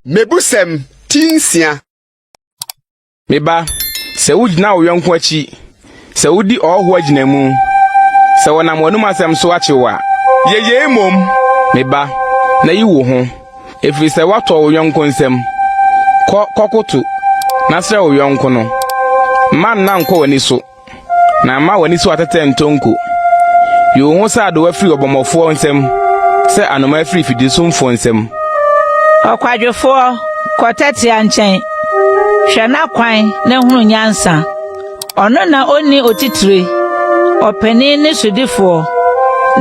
Mebusɛm ti nsia. Me ba, sɛ wugyina wo yɔnko akyi, sɛ wodi ɔhɔho agyinamu, sɛ wɔnam w'anom asɛm so akyew a. Yɛ yei mmom, me ba, na yi wo ho, ɛfiri sɛ woatɔ wo yɔnko nsam. Kɔ, kɔkoto, na srɛ wo yɔnko no. Mma nna nkɔ w'ani so. Na mma w'ani so atɛtɛ ntɔ nko. Yi wo ho sɛ adowa firi ɔbɔmmɔfoɔ nsam, sɛ anomaa firi fidisumfoɔ nsam. Ɔkwadwofoɔ, kɔ tɛtea nkyɛn, hwɛ n'akwan na hunu nyansa. Ɔno na ɔnni otitire, ɔpanin ne sodifoɔ,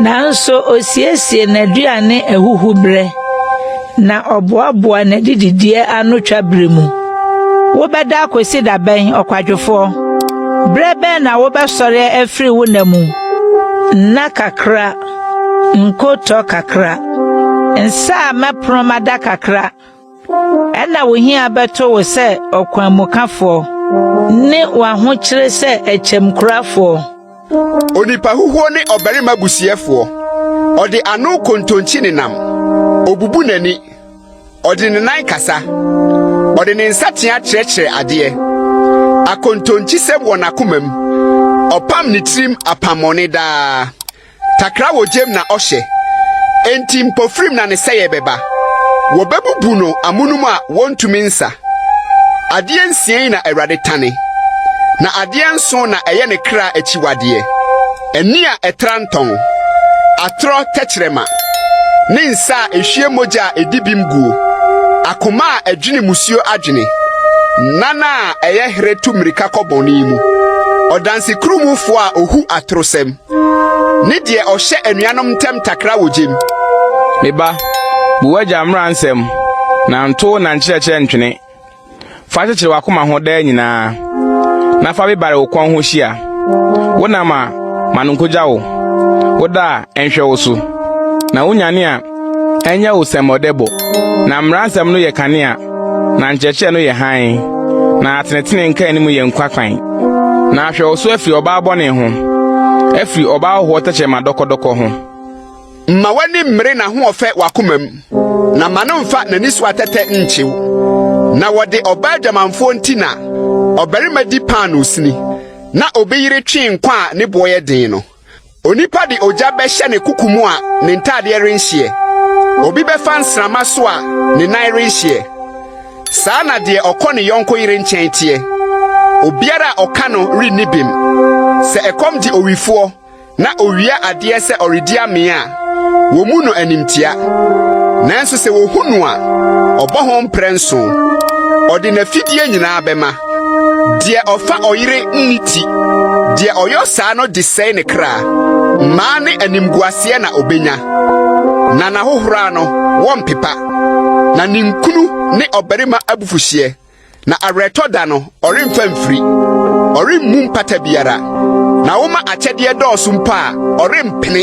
nanso ɔsiesie n'aduane ahuhuberɛ. Na ɔboaboa n'adidideɛ ano twa bere mu. Wobɛda akosi da bɛn, ɔkwadwofoɔ? Berɛ bɛn na wobɛsɔre afiri wo nna mu? Nna kakra, nkotɔ kakra, nsa a mɛpono mada kakra, ɛna wo hia bɛto wo sɛ ɔkwanmukafoɔ ne w'ahokyere sɛ akyɛmkurafoɔ. Onipa huhuo ne ɔbarima busiɛfoɔ. Ɔde ano kontonkyi ne nam. Ɔbubu n'ani. Ɔde ne nan kasa. Ɔde ne nsatea kyerɛkyerɛ adeɛ. Akontonkyisɛm wɔ n'akomam. Ɔpam ne tirim apammɔne daa. Takra wɔ gyam na ɔhyɛ. Enti mpofirim na ne sɛeɛ bɛba. Wɔbɛbubu no amonom a wɔntumi nsa. Adeɛ nsia yi na Awurade tane, na adeɛ nson na ɛyɛ ne kra akyiwadeɛ, ani a ɛtra ntɔn, atorɔ tɛkyerɛma, ne nsa a ɛhwie mogya a ɛdi bem guo, akoma a ɛdwene musuo adwene, nan a ɛyɛ herɛ tu mmirika kɔ bɔne mu, ɔdansekuruwmufoɔ a ɔhu atorosɛm. ne deɛ ɔhyɛ anuanom ntam takra wɔ gyem. Me ba, bu w'agya mmara nsɛm, na nto na nkyerɛkyerɛ ntwene. Fa kyekyere w'akoma ho daa nyinaa, na fa bebare wo kɔn ho hyia. Wonam a, ma no nkogya wo, woda a, ɛnhwɛ wo so, na wonyane a, Ɛnyɛ wo sɛ mmɔde bo. Na mmara nsɛm no yɛ kanea, na nkyerɛkyerɛ no yɛ hann, na atenetene nkaanim yɛ nkwa kwan. Na hwɛ wo so afiri ɔbaa bɔne ho, afiri ɔbaa hohoɔ tɛkyerɛma dɔkɔdɔkɔ ho. Mma w'ani mmere n'ahoɔfɛ w'akomam, na mma no mfa n'ani so atɛtɛ nnkye wo. Na wɔde ɔbaa adwamanfoɔ nti na ɔbarima di paanoo sini, na obi yere twe nkwa a ne boɔ yɛ den no. Onipa de ogya bɛhyɛ ne koko mu a ne ntadeɛ renhyeɛ. Obi bɛfa nsramma so a ne nan renhyeɛ. Saa na deɛ ɔkɔ ne yɔnko yere nkyɛn teɛ. Obiara a ɔka no renni bem. Sɛ ɛkɔm gye owifoɔ na owia adeɛ sɛ ɔredi amee a, wɔmu no animtia. Nanso sɛ wɔhu no a, ɔbɔ ho mprɛ nso. Ɔde n'afidie nyinaa bɛma. Deɛ ɔfa ɔyere nni ti. Deɛ ɔyɔ saa no de sɛe ne kra. Mmaa ne animguaseɛ na ɔbɛnya. Na n'ahohora no, wɔmpepa. Na ninkunu ne ɔbarima abufuhyeɛ. Na awerɛtɔ da no, ɔremfa mfiri, ɔremmu mpata biara. Na woma akyɛdeɛ dɔɔso mpo a, ɔrempene.